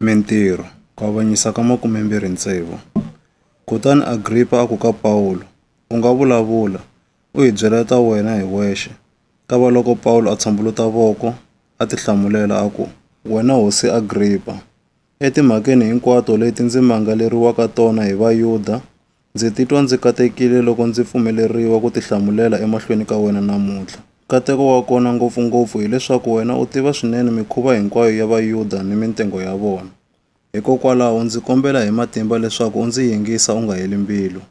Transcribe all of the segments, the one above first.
Mintirho, ku avanyisa ka makumembirhi tsevu. Kutani Agripa a ku ka Pawulo, U nga vulavula, u hi byela ta wena hi wexe. Kavaloko Pawulo a tshambuluta voko, a ti hlamulela a ku, Wena hosi Agripa, etimhakeni hinkwato leti ndzi mangaleriwaka tona hi Vayuda, Ndzi titwa ndzi katekile loko ndzi pfumeleriwa ku tihlamulela emahlweni ka wena namuntlha. Nkateko wa kona ngopfu-ngopfu hi leswaku wena u tiva swinene mikhuva hinkwayo ya Vayuda ni mintengo ya vona. Hikokwalaho, ndzi kombela hi matimba leswaku u ndzi yingisa u nga heli mbilu.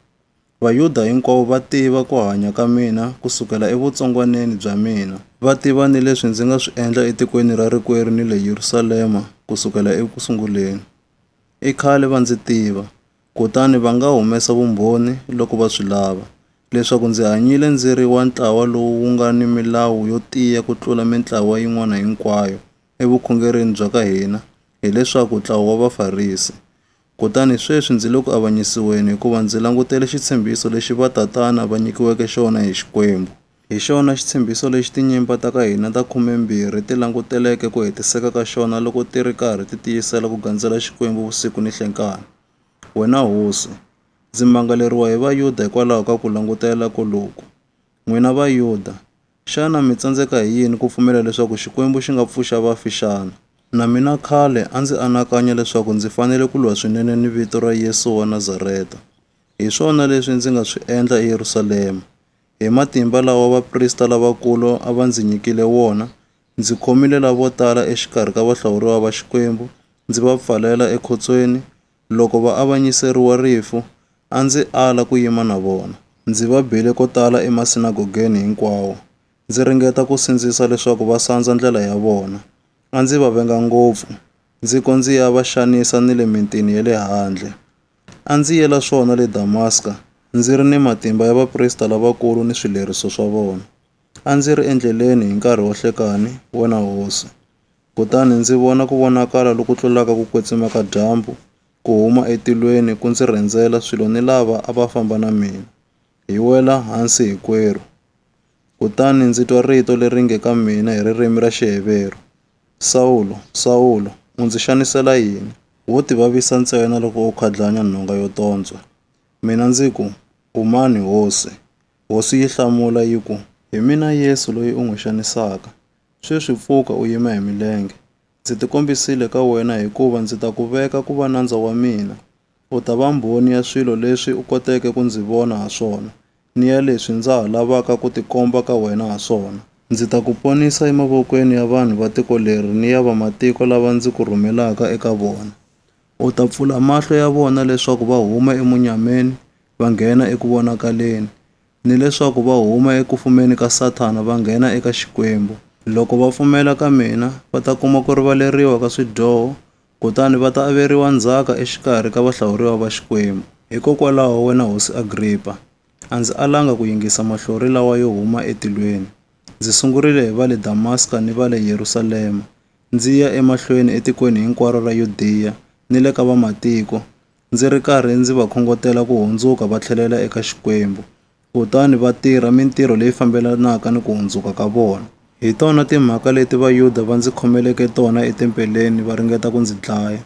Vayuda hinkwavo va tiva ku hanya ka mina ku sukela evutsongwaneni bya mina. Va tiva ni leswi ndzi nga swi endla etikweni ra rikwerhu ni le Yerusalema ku sukela eku sunguleni. I khale va ndzi tiva, Kutani va nga humesa vumbhoni loko va swi lava, leswaku ndzi hanyile ndzi ri wa ntlawa lowu wu nga ni milawu yo tiya ku tlula mintlawa yin'wana hinkwayo evukhongerini bya ka hina, hileswaku, ntlawa wa Vafarisi. Kutani sweswi ndzi le ku avanyisiweni hikuva ndzi langutele xitshembiso lexi vatatana va nyikiweke xona hi Xikwembu. Hi xona xitshembiso lexi tinyimpa ta ka hina ta khumembirhi ti languteleke ku hetiseka ka xona loko ti ri karhi ti tiyisela ku gandzela Xikwembu vusiku ni nhlenkani. Wena hosi, ndzi mangaleriwa hi Vayuda hikwalaho ka ku langutela koloku. N'wina Vayuda, xana mi tsandzeka hi yini ku pfumela leswaku Xikwembu xi nga pfuxa vafi xana? Na mina khale a ndzi anakanya leswaku ndzi fanele ku lwa swinene ni vito ra Yesu wa Nazareta. Hi swona leswi ndzi nga swi endla eYerusalema. Hi matimba lawa vaprista lavakulu a va ndzi nyikile wona, ndzi khomile lavo tala exikarhi ka vahlawuriwa va Xikwembu ndzi va pfalela ekhotsweni. Loko va avanyiseriwa rifu, a ndzi ala ku yima na vona. Ndzi va bile ko tala emasinagogeni hinkwawo, ndzi ringeta ku sindzisa leswaku va sandza ndlela ya vona. A ndzi va venga ngopfu, ndzi ko ndzi ya va xanisa ni le mitini ya le handle. A ndzi yela swona le Damaska, ndzi ri ni matimba ya vaprista lavakulu ni swileriso swa vona. A ndzi ri endleleni hi nkarhi wa nhlekani, wena hosi, kutani ndzi vona ku vonakala loku tlulaka ku kwetsima ka dyambu ku huma etilweni ku ndzi rhendzela swilo ni lava a va famba na mina, hi wela hansi hinkwerhu. Kutani ndzi twa rito leri nge ka mina hi ririmi ra Xiheveru, Sawulo, Sawulo, u ndzi xanisela yini? Wo tivavisa ntsena loko u khadlanya nhonga yo tontswa. Mina ndzi ku, U mani, Hosi? Hosi yi hlamula yi ku, Hi mina Yesu loyi u n'wi xanisaka. Sweswi pfuka u yima hi milenge. Ndzi tikombisile ka wena hikuva ndzi ta ku veka ku va nandza wa mina. U ta va mbhoni ya swilo leswi u koteke ku ndzi vona ha swona ni ya leswi ndza ha lavaka ku tikomba ka wena ha swona. Ndzi ta ku ponisa emavokweni ya vanhu va tiko leri ni ya vamatiko lava ndzi ku rhumelaka eka vona. U ta pfula mahlo ya vona leswaku va huma emunyameni va nghena eku vonakaleni, ni leswaku va huma eku fumeni ka Sathana va nghena eka Xikwembu. Loko va pfumela ka mina, va ta kuma ku rivaleriwa ka swidyoho, Kutani va ta averiwa ndzhaka exikarhi ka vahlawuriwa va Xikwembu. Hikokwalaho, wena Hosi Agripa, a ndzi alanga ku yingisa mahlori lawa yo huma etilweni. Ndzi sungurile hi va le Damaska ni va le Yerusalema, ndzi ya emahlweni etikweni hinkwaro ra Yudiya ni le ka Vamatiko, ndzi ri karhi ndzi va khongotela ku hundzuka va tlhelela eka Xikwembu, kutani va tirha mintirho leyi fambelanaka ni ku hundzuka ka vona. Hi tona timhaka leti Vayuda va ndzi khomeleke tona etempeleni va ringeta ku ndzi dlaya.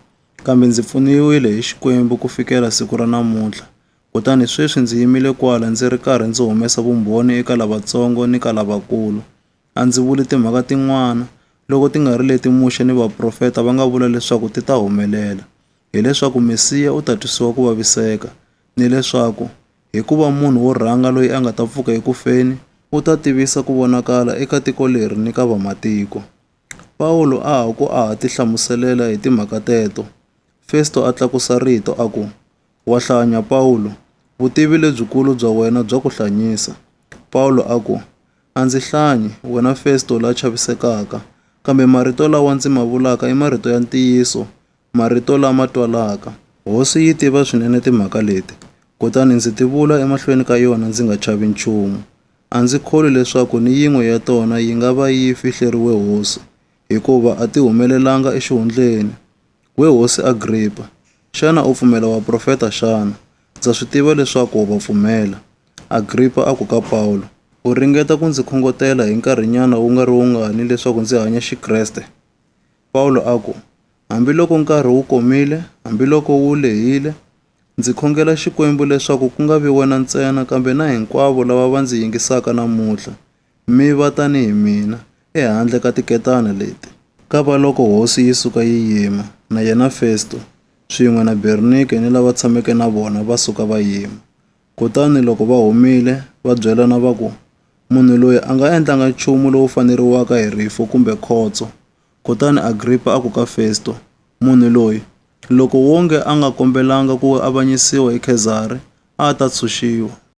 Kambe ndzi pfuniwile hi Xikwembu ku fikela siku ra namuntlha, kutani sweswi ndzi yimile kwala ndzi ri karhi ndzi humesa vumbhoni eka lavatsongo ni ka lavakulu. A ndzi vuli timhaka tin'wana, loko ti nga ri leti Muxe ni vaprofeta va nga vula leswaku ti ta humelela, hileswaku Mesiya u ta twisiwa ku vaviseka, nileswaku Hikuva munhu wo rhanga loyi a nga ta pfuka eku feni u ta tivisa ku vonakala eka tiko leri ni ka vamatiko. Pawulo a ha ku a ha tihlamuselela hi timhaka teto, Festo a tlakusa rito a ku, Wa hlanya, Pawulo! Vutivi lebyikulu bya wena bya ku hlanyisa. Pawulo a ku, A ndzi hlanyi, wena Festo la chavisekaka, kambe marito lawa ndzi ma vulaka i marito ya ntiyiso, marito lama twalaka. Hosi yi tiva swinene timhaka leti, kutani ndzi ti vula emahlweni ka yona ndzi nga chavi nchumu. A ndzi kholwi leswaku ni yin'we ya tona yi nga va yi fihleriwe hosi, hikuva a ti humelelanga exihundleni. We hosi Agripa, xana u pfumela vaprofeta xana? Ndza swi tiva leswaku wa va pfumela. Agripa a ku ka Pawulo, U ringeta ku ndzi khongotela hi nkarhinyana wu nga ri wungani leswaku ndzi hanya Xikreste? Pawulo a ku, Hambiloko nkarhi wu komile, hambiloko wu lehile, ndzi khongela Xikwembu leswaku ku nga vi wena ntsena kambe na hinkwavo lava va ndzi yingisaka namuntlha, mi va tanihi mina, ehandle ka tiketana leti. Kavaloko hosi yi suka yi yima, na yena Festo, swin'we na Bernike ni lava tshameke na vona va suka va yima. Kutani loko va humile, va byelana va ku, Munhu loyi a nga endlanga nchumu lowu faneriwaka hi rifu kumbe khotso, Kutani Agripa a ku ka Festo, Munhu loyi, loko wonge a nga kombelanga ku avanyisiwa hi Khezari, a a ta tshunxiwa.